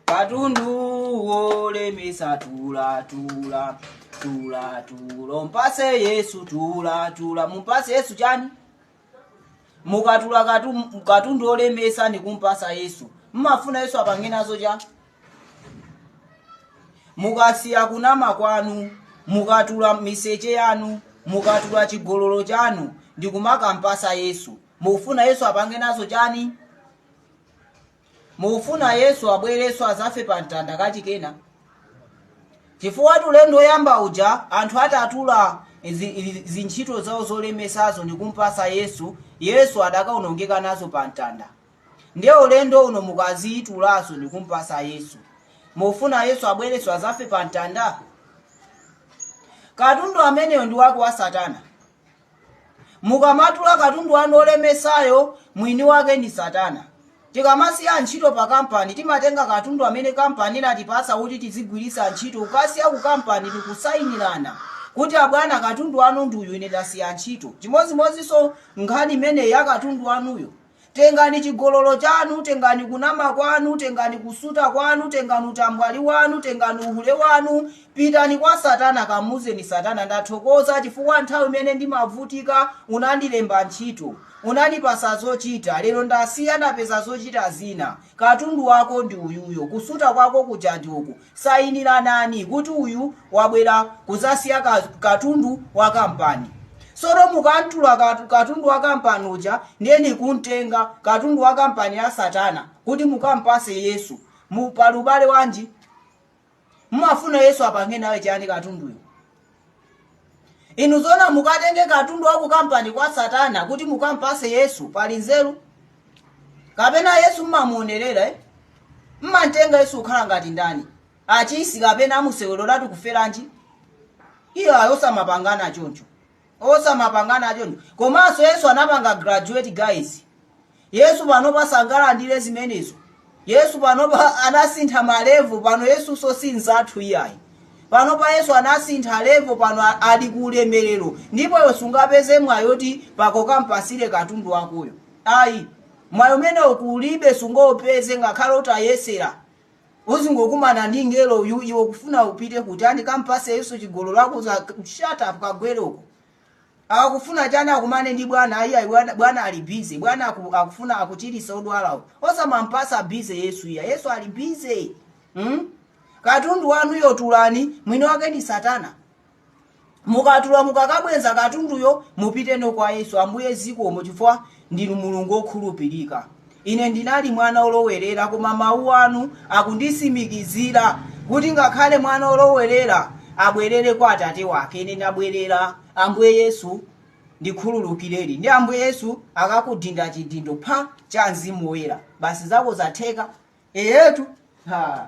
katundu wolemesa tula tula tula tula mpase yesu tula tula mumpase yesu chani mukatula katu- katundu wolemesa ndikumpasa yesu mmafuna yesu apange nazo cha mukasiya kunama kwanu mukatula miseche yanu mukatula chigololo chanu ndikumakampasa yesu mukufuna yesu apange nazo chani Mukufuna Yesu abwerenso azafe pa mtanda kachikenanso? Chifukwa ulendo oyamba uja anthu atatula zi- zi- zintchito zawo zolemetsazo ndikumpasa Yesu, Yesu adakaonongeka nazo pa mtanda. Ndiye ulendo uno mukazitulazo ndikumpasa Yesu. Mukufuna Yesu abwerenso azafe pa mtanda? Katundu ameneyo ndi wake wa Satana. Mukamatula katundu wanu olemetsayo, mwini wake ndi Satana. Tikamasiya ntchito pakampani, timatenga katundu amene kampani inatipatsa kuti tizigwiritsa ntchito. Kukasiya kukampani ndi kusainirana kuti abwana katundu wanu ndi uyu, ine ndasiya ntchito. Chimodzimodzinso nkhani imeneyi ya katundu wanuyo, Tengani chigololo chanu, tengani kunama kwanu, tengani kusuta kwanu, tengani utambwali wanu, tengani uhule wanu, pitani kwa Satana, kamuuzeni Satana, ndathokoza chifukwa nthawi imene ndimavutika unandilemba ntchito, unandipasa zochita, lero ndasiya ndapeza zochita zina, katundu wako ndi uyuyo, kusuta kwako kuja ndi uku. sayinilanani kuti uyu wabwera kuzasiya ka, katundu wa kampani sono mukamtula katu- katundu wa kampani uja ndiye nikuntenga katundu wa kampani ya satana kuti mukampase yesu mmm pali ubale wanji mumafuna yesu apange naye chani katunduyo Inu zoona mukatenge katundu wa ku kampani kwa satana kuti mukampase yesu pali nzeru kapena yesu mmamuonerera eh? mmamtenga yesu kukhala ngati ndani achisi kapena amuseweretsa atu kuferanji iyayi osamapangana choncho osamapangana choncho komanso yesu anapanga graduate guys Yesu panopa sangalandire zimenezo. Yesu panopa anasintha ma level pano Yesunso si mzathu iyayi. Panopa Yesu anasintha level pano a- ali ku ulemerero ndipo iwe sungapeze mwayi oti pakokha ukampasire katundu wakoyo. Ayi. Mwayi umenewo kulibe sungaupeze ngakhale utayesera. Uzangokumana ndi ngelo uyu iwe ukufuna upite kuti ndikampase Yesu chigololo akuuza shut up kagwere uko. akufuna chani akumane ndi bwana iyayi bwana- bwana ali busy bwana aku, akufuna kuchiritsa odwalawo osamampasa busy yesu iyayi yesu ali busy hmm? katundu wanuyo tulani mwini wake ndi satana mukatula mukakabwenza katunduyo mupiteno kwa yesu ambuye zikomo chifukwa Ndinu Mulungu wokhulupirika. Ine ndinali mwana wolowerera, koma mawu anu akunditsimikizira kuti ngakhale mwana wolowerera abwerere kwa atate wake. Ine ndabwerera, Ambuye Yesu, ndikhululukireni. Ndiye Ambuye Yesu akakudinda chidindo pha cha Mzimu Woyera. Basi zako zatheka. Eyetu. Ha.